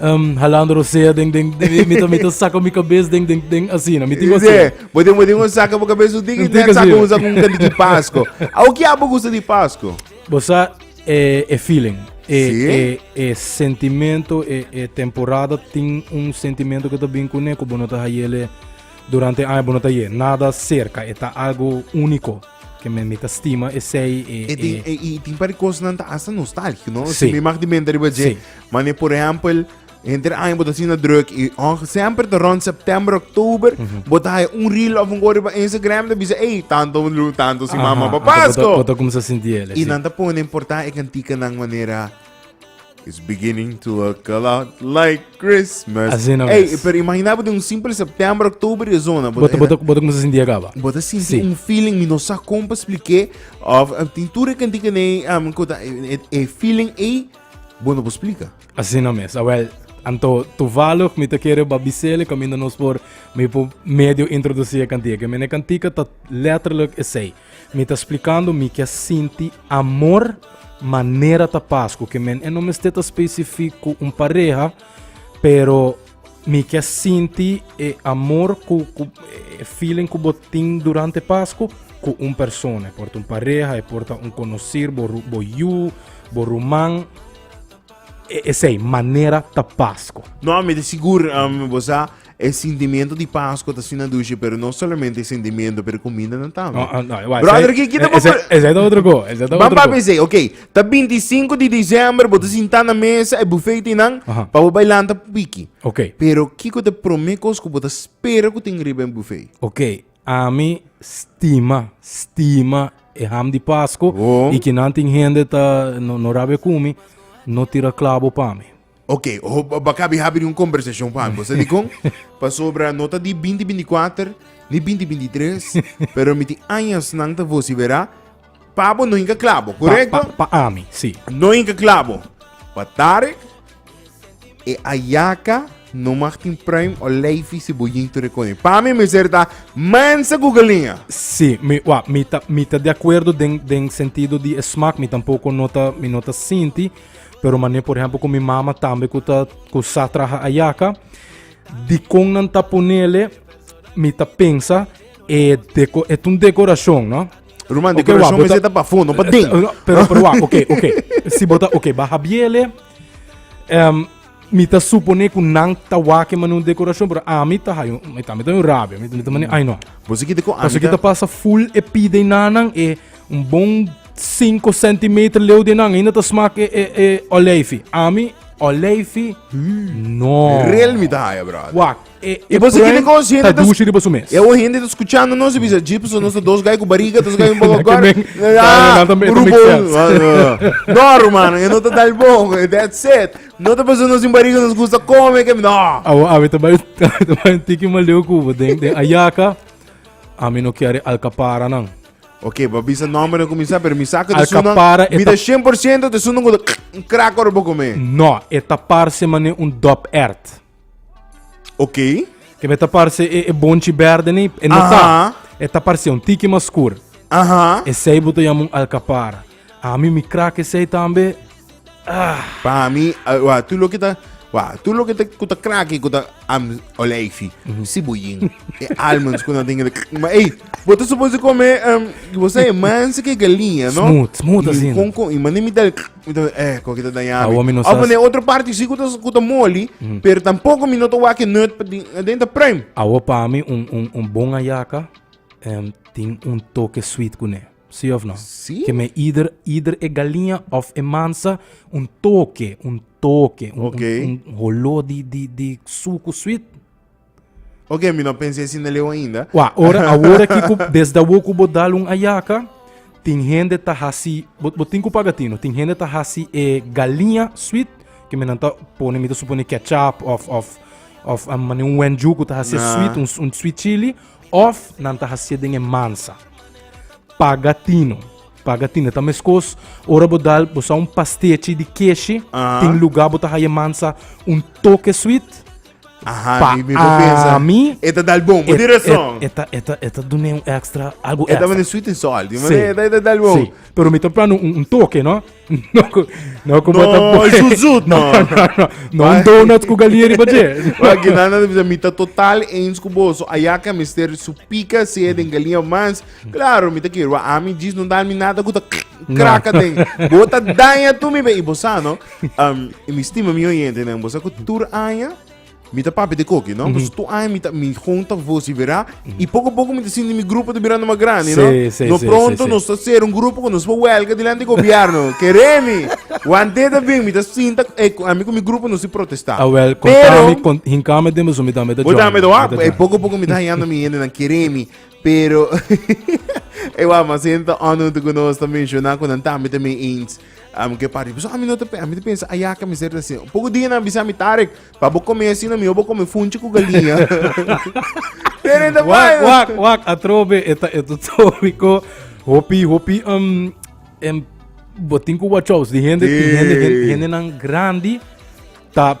um, halando rosea den den den mito mito saco mi cabeza den den den así na mito así yeah bote bote un saca boca cabeza u digi den saca usa un candy de pasco au que abo gusta de pasco bosa eh, e feeling e, sí? e, e sentimento e, e temporada tin un sentimento que ta bin con neko bono ta hayele durante año bono ta ye nada cerca e ta algo único que me mita stima e sei e, e, e, e, e, e tin para cosnan ta hasta nostálgico no sí. si me mag de mente riba sí. Mane, por ehempel, Enter año bota sina druk i och semper te rond september, oktober, bota hai un reel of un gori pa Instagram te bisa, ei, tanto lu, tanto si mama pa Pasko. Bota kumsa sinti el. I nan ta pone importa e kantika nan manera It's beginning to look a lot like Christmas. Así no Ey, es. pero imagina de un simple septiembre, octubre y zona. Bota, bota, bota como se sentía acaba. Bota sinti sí. un feeling, mi no sa como expliqué. Of, tintura que diga ne, um, e, e feeling e Bo no por splika? Asina mes. Awel, anto toevallig mi ta kere ba bisele kaminda nos por mi por medio introducí e kantika. Mi na e kantika ta letterlijk esei. Mi ta splikando mi ke sinti amor manera ta pas ku ke men e no mester ta specifiek ku un pareha, pero Mi ke sinti e amor ku ku e feeling ku bo tin durante Pasku ku un persona. E por ta un pareha, e por ta un konosir, bo ru- bo yu, bo ruman. E esei manera ta Pasku. No, mi ta sigur, um, bo sa, e sentimiento di Pascu ta asina dushi, pero no solamente e sentimiento, pero e cumindanan tambe. No, ah, no, wai, Brother, esei- ki- ki ta esei- por- esei ta otro go, esei ta Ban otro go. papi sei, ok. Ta 25 di diciember, bo te sintá na mesa e buffet ti nan, Aha. pa bo bai lanta pupiki. Ok. Pero kiko te promé kos ku bo ta spera ku tin riba en buffet? Ok, ami stima, stima e ham di Pasco Oh. y kinan tin hende ta no, no rabia cu mi, no tira clavo pa mi. Ok, ho, ba- ba kabi habi di un conversacion pa ambos. Sabi kon? Pasobra no ta di 2024, ni 2023, pero mi tin añas nan ta vocifera, pabo no hinka clabo, Pa, correcto? pa, pa ami, sí. No hinka clabo. Pa Tarek, e ayaka no mag tin pruim o leifi si bo jinto de koning. Pa mi mester ta mansa gugalinga. Sí, mi, wa, mi ta, mi ta de acuerdo den, den sentido di e smaak, mi tampoco no ta, mi no ta sinti, Pero manera por ejemplo con mi mama tambe cu ta cu sa traha ayaka. Di con nan ta ponele, mi ta pensa, e deco, e un decoracion, no? Roman, okay, decoracion is pa fundo, pa ding. Pero, pero, ok, ok. Si bota, ok, baja biele. Um, Mi ta supone ku nan ta wak e manu dekorashon, pero ami ta hay un, mi ta mi ta hay un rabia, mi ta mane ay no. Boso kiti ku Paso ami ki ta ta pasa full e pi den nanan e un bon 5 centimeter leu den nan ainda ta smak e e e olijfi. Ami olijfi no. rel mi ta haya, brother. Wak. E bo sigi den con gente ta dushi riba su mes. E o gente ta escuchando nos y bisa, "Jis pues nos ta dos gai cu bariga, dos gai un poco Que gordo." men- Ah, Ah, nan también burro también bon. Ah, no. No, hermano, e no ta dal bon. That's it. No ta paso nos un bariga nos gusta come. Que... No. Awo awe te bai te bai tiki ma leu kubo den den ayaka. A mi no kiare alcapara nan. Ok, pa bisa nombre no comienza, pero mi saca de sunan. Alcapara, Mi eta- da 100% de sunan con un crack orbo come. No, eta parse mane un dop ert. Oké. Ke me ta parse e, e bonchi bèrdè ni, e no ta. Aha. E ta parse un tiki mas skur. Aha. Esei bo ta yama un alkapara. Ami mi krak esei tambe. Pa mi, ah, wa, tu loke ta, wa, tu loke ta, ku ta kraki, ku ta, am, olijfi, si bo yin, e almonds ku na den el, ma ei, bo ta suposo kome, em, bo sa e manse ke galiña, no? Smooth, smooth I asin. kon kon, i mane mi dal, Mi ta eh, ko ki ta dañá mi. Awor mi no sa- Of den otro parti si ku ta, ku ta moli, pero tampoko mi no ta wak e nut pa di- adenta pruim. Awor pa mi un, un, un bon ayaka em, tin un toke sweet kuné. Sí of no? Sí. Ke me ieder, ieder e galinha of e mansa un toke, un toke, un, Oké. un, un holó di, di, di suku sweet Oke, mi no pens'é asina leu ainda. Wak, ora, awor aki ku desde awor ku bo dal un ayaka, tin hende ta hasi, bo, bo tin ku paga tino, tin hende ta hasi e galiña sweet, ke mi nan ta pone, mi ta suponé kètchup òf, òf, òf a manera un wen yu ku ta hasié Nah. sweet, un, un sweet chili, òf nan ta hasié den e mansa. Paga tino, paga tino. Ta meskos ora bo dal, bo sa un pastechi di keshi, Aha. tin lugá bo ta haya mansa un toke sweet, Aha, Pa mi, mi por pensa. ami, E ta dal bon, por di rason. E ta, e ta, e ta dune un extra, algo E ta extra. mane sweet and salt. Di Sí. mane, e ta- e ta dal bon. Sí. Pero mi ta plan un, un toque, ¿no? No, co- no como No, ta boy. zoet, zoet, no. no, no, no. No un donut con galia riba je. Wa Genana de Bisa, mi ta total eens ku bo. So ayaka mister su pika se den galia mas Claro, mi ta kier wak ami djis no dal mi nada ku ta krak aden. Bo ta daña tu mi be. I bo sa no, um, i mi stima mi oyentenen, bo sa ku tur aña mi ta papi de koki, no? Pues tur aña mi ta mi gon ta vociferá i poko a poko mi ta sinti mi grupo ta birando mas grandi, no? Sí, sí, no sí, pronto sí, sí. nos ta ser un grupo ku nos pa huelga dilanti gobierno. Keremi, wan te ta bin mi ta sinta eh, ku- ami ku mi grupo nos i protestá. Ah, wel, Pero- kontami, kon, hinkami den boso, mi tambe ta bo dame join. do Mi ta ah, e join. poco poco mi ta hallando mi hende nan keremi. Pero, e wou mas henta onuntu ku nos ta menshona ku nan tambe ta mi ins um, ke parti. Paso ami no ta, ami ta pensa, aya ka mi ser ta sin. Poco dia nan bisa mi Tarek, pa bo come así na mi, bo come funchi ku galinha. Pero ta Wak, wak, wak, atrobe, eta, eta, tobiko, hopi, hopi, um, em, botin ku wachows, di hende, di hende, hende, hende nan grandi, ta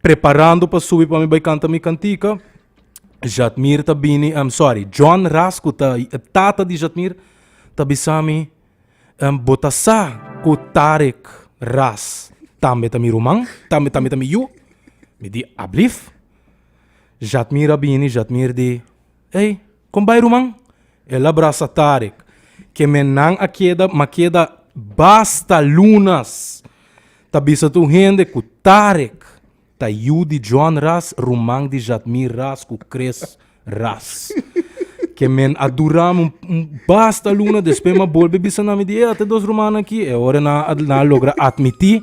Preparando pa subi pa mi bai kanta mi kantika, Jatmir ta bini, um, sorry, John Ras ku ta e tata di Jatmir ta bisa mi, um, bo ta sa ku Tarek Ras tambe ta mi ruman, tambe tambe ta mi yu? Mi di, Ablif. Jatmir a bini, Jatmir di, Ey, Kon bai ruman? El a brasa Tarek. Ke mennan a keda ma keda basta lunas. Ta bisa tur hende ku Tarek ta yu di John Ras, ruman di Jadmir Ras ku Chris Ras. Ke men a dura mi un basta luna, despues mi a bolbe bisa na mi di, ey, a ta dos rumannan aki. E ora nan a logra atmití.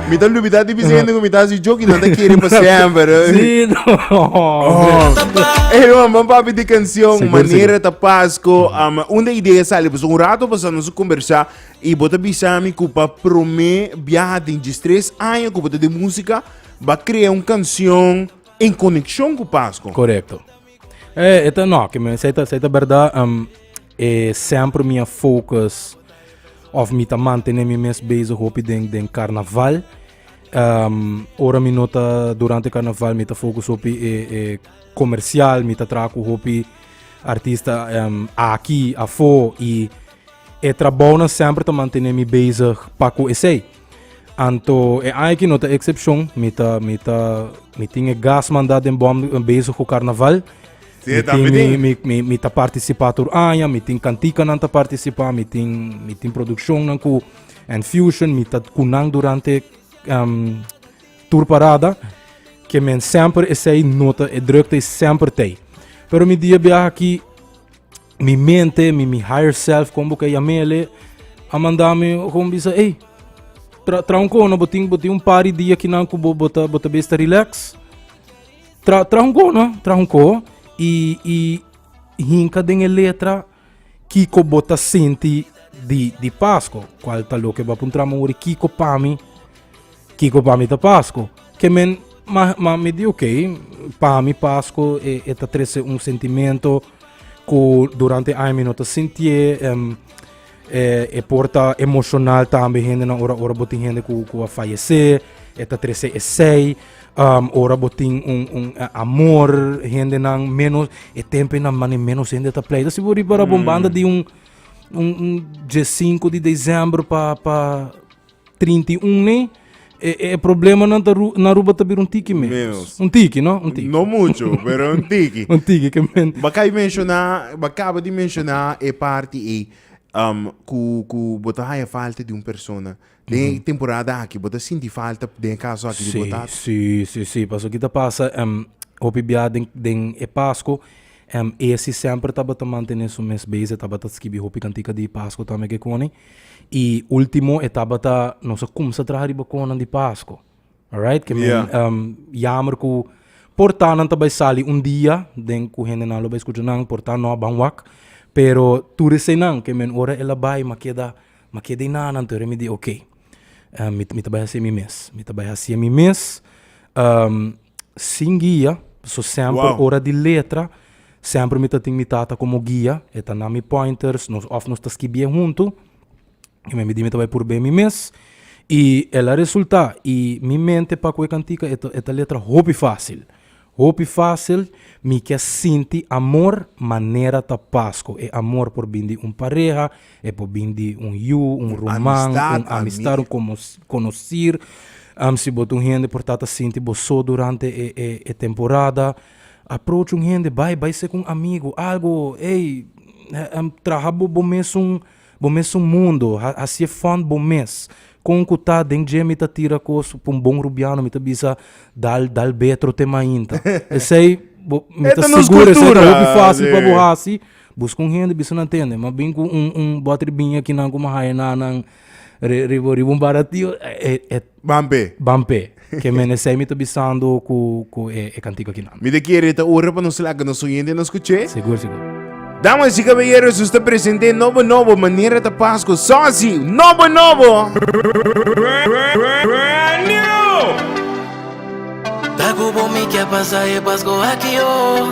Mi ta lubida di bisa hende ku mi ta hasi joki nan ta kere pa semper. Sí, no, hombre. Oh. Ey, man, man papi di canción Seguro, Manera ta Pasco. Um, un de idea sali, pues un rato pasando nos conversa y bota bisa mi ku pa prome viaja den jis tres año ku bota de música ba crea un canción en conexión ku Pasco. Correcto. Eh, eta no, que me seta seta verdad. Um, E semper mi a focus of mi ta mantene mi mes bezig hopi den den carnaval. Um, ora mi no ta durante carnaval mi ta focus hopi e, e comercial, mi ta trabajo cu hopi artista um, aki, afo y e trabajo na semper ta mantene mi bezig pa cu esei. Anto e aña ki no ta eksepshon, mi ta, mi ta, mi tin e gas manda den bòm bezig ku karnaval. Si, Mi tambe tin, mi, tin. mi, mi, mi ta partisipá tur aña, mi tin kantikanan ta partisipá, mi tin, mi tin produkshonnan ku And Fusion, mi ta ku nan durante ehm, tur parada, ke men semper esei no ta, e drukte is semper tei. Pero mi dia biaha aki, Mi mente, mi, mi higher self, como que llamele, a mandame gewoon bisa, hey, tra, tra un cono, botin, botin un par de dia que nan cubo bota, bota besta relax. Tra, tra un cono, tra un co, y, y hinca den el letra, Kiko bota senti di, di Pasco, cual ta lo que va puntramo ori, Kiko pami, Kiko pa mi ta Pasku? Ke men, ma, ma mi di ok, pa mi Pasku e, e ta trese un sentimento ku durante aña mi no ta sintié. Um, e, e por ta emoshonal tambe hendenan ora, ora bo tin hende ku, ku a fayesé. E ta trese esei. Um, ora bo tin un, un amor hendenan ménos e tempenan mane ménos hende ta pleita. Si bo ripara bon banda di un, un, un dje sinku di desèmber pa, pa, trinta i un ne e, e problemanan ta ru, na Aruba ta bira un tiki menos. Menos. Un tiki, no? Un tiki. No mucho, pero un tiki. Un tiki ke men. Bakay menciona, bakaba di menciona e parti ei um, ku, ku bo ta haya falta di un persona. Den e temporada aki, bo ta sinti falta den e kaso aki di bo Sí, tata? sí, sí, sí. Paso ki ta pasa em, hopi biaha den, den e Pasco, Em esi semper tabata mantene su mes bes, e tabata skibi hopi kantika di Pasko tambe kekoni. I ultimo e tabata nos a kumsa traha riba konan di Pasko. Alright, ke men yeah. um, yamer ku portanan ta bai sali un dia den ku hendenan lo bai skucha nan, portan no a ban wak, pero tur eseinan ke men ora el a bai ma keda ma keda i nanan tur mi di okay. Um, mi, mi ta bai hasi mi mes. Mi ta bai hasi mi mes. Um, sin guia, so semper Wow. ora di letra, semper mi ta tin mi tata como guia, e ta na mi pointers, nos, of nos ta skibie hunto, y me mi di mi ta bai purbé mi mes, y el a resulta, y mi mente pa cu e cantica e ta, e ta letra hopi facil, hopi facil, mi ke sinti amor manera ta Pasco, e amor por bin di un pareha, E por bin di un yu, un ruman, un amistad, un conocer. Si bo ta un hende por ta ta sinti bo so durante e temporada, approach un hende, bay, bay sek un amigo, algo, ey, traha bo, bo mes un, bo mes un mundo, hacié fund bo mes. Con cu ta den dje mi ta tira cos, pa un bon Rubiano mi ta bisa, dal, dal betro te mainta. Esey, bo, mi ta segur esey ta hopi fácil pa bo haci. Busca un hende bisa nan tende mas bin cu un un bottle di biña ki nan como haya na nan ri riba riba un baratio e e Ban p'e. ban p'e ke menesey mi ta bisando cu cu e e cantico akinan. Mi ta kere ta ora pa nos laga nos oyente na scuch'e. Segur segur. Damas y caballeros nos ta present'e nobo nobo manera ta Pasco soci nobo nobo. Brand new! Ta cu bo mi ke pasa e Pasco aki oh.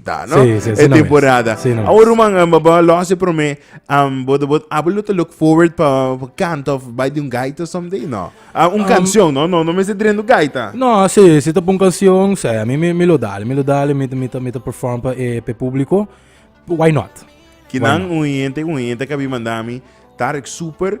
Ta, no? Sí, sí, e sí, temporada. Sí, no. Awor, man, um, eh, ba losse pro me, um, bod, bod, abo lo te look forward pa, pa kant of by the gaita someday, no? Uh, un um, canción, no? No, no me se drendo gaita. No, sí, si te pon canción, sí, a mi, mi, mi lo dale, mi lo dale, mi, mi, mi, mi perform pa, eh, pe público, why not? Que nan un gente, un gente que vi mandami, Tarek Super,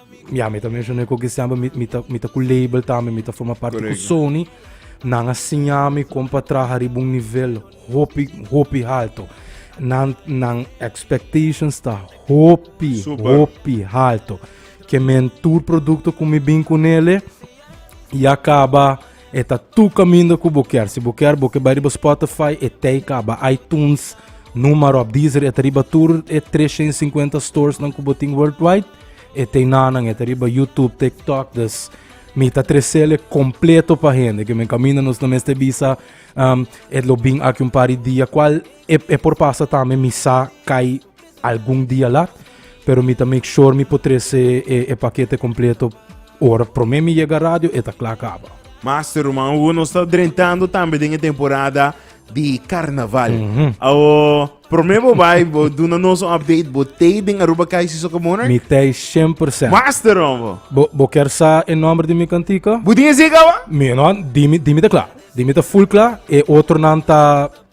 Ya mi ta mencion'é ku Cristian pa mi mi ta mi ta ku label tambe, mi ta forma parti ku Correcto. Sony. Nan a siñami kon pa traha riba un nivel hopi hopi halto. Nan nan expectations ta hopi Super. hopi halto. Ke men tur produkto ku mi bin ku nele ya kaba E ta tu kaminda ku bo kier. Si bo kier bo ke bai riba Spotify, e tei kaba, iTunes, numa ròp, Deezer, e ta riba tur e tres shen sinkuenta storesnan ku bo tin worldwide. E tei nanan, e ta riba YouTube, TikTok, dus mi ta tresele kompleto pa hende. Ke men kaminda nos no mester bisa e lo bin aki un par di dia, kual e por pasa tambe mi sa kai Algun dia lat, pero mi ta make sure mi por trese e pakete kompleto ora promé mi yega radio e ta kla kaba. Master Ruman Hugo, nos ta drentando tambe den e temporada di karnaval. Awo, promé bo bai, bo duna nos un update, bo tei den Aruba KIC Soccer Monarch? Mi tei shen por sènt. Master Rombo! Bo bo kier sa e nòmber di mi kantika? Bo tin esei kaba? Mi no, di mi di mi ta kla. Di mi ta full kla, e otronan ta.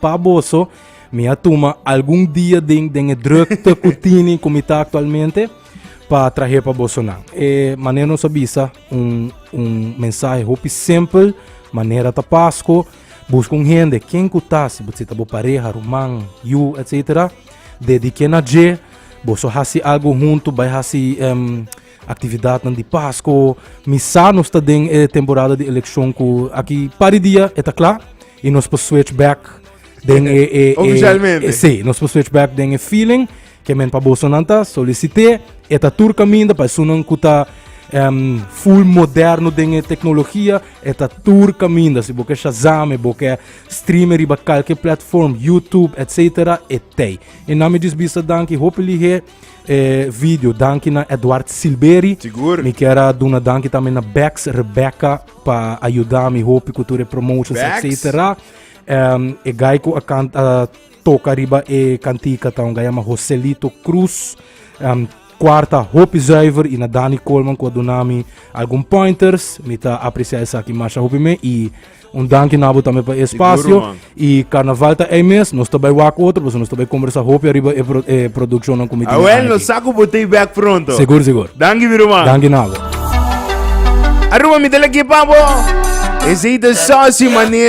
Pa boso, mi a tuma algun dia den den e drukte ku tini ku mi ta aktualmente pa trahe pa boso nan. E manera nos a bisa un un mensahe hopi simpel, manera ta Pasko, buska un hende ken ku ta, si bo si ta bo pareha, ruman, yu, etcetera, dedik'é na dje, boso hasi algu huntu, bai hasi em aktividatnan di Pasko, mi sa nos ta den e temporada di elekshon ku aki par di dia e ta kla. Y nos por switch back den e, e, e Oficialmente. e- sí, nos por switch back den e feeling que men pa boso nan ta solicité e ta tur caminda pa sunan cu ta em, full moderno den e tecnología e ta tur caminda si boke Shazam e boke streamen riba calke platform YouTube etcétera e tei e nami dis bisa danki hopi lihe e video danki na Edward Silberi Sigur. mi kera duna danki tambe na Bex Rebecca pa ayuda mi hopi ku tur e promotions Bags. etcetera. Um, e guy ku a, can, a toca riba e cantica ta un guy llama Joselito Cruz. Um, cuarta hopi zuiver y na Danny Coleman ku a duna mi algun pointers. Mi ta aprecia esaki masha hopi me y un danki nabo tambe pa e espacio. Seguro, man. Y carnaval ta ey mes, nos ta bay wak otro pasobra nos ta bay conversa hopi ariba e produccionnan cu mi tin den Awel, nos sa cu bo ta y bek pronto. Segur, segur. Danki mi ruman. Danki na bo. Aruba mi ta lek ye pa bo. Esey ta soci manera.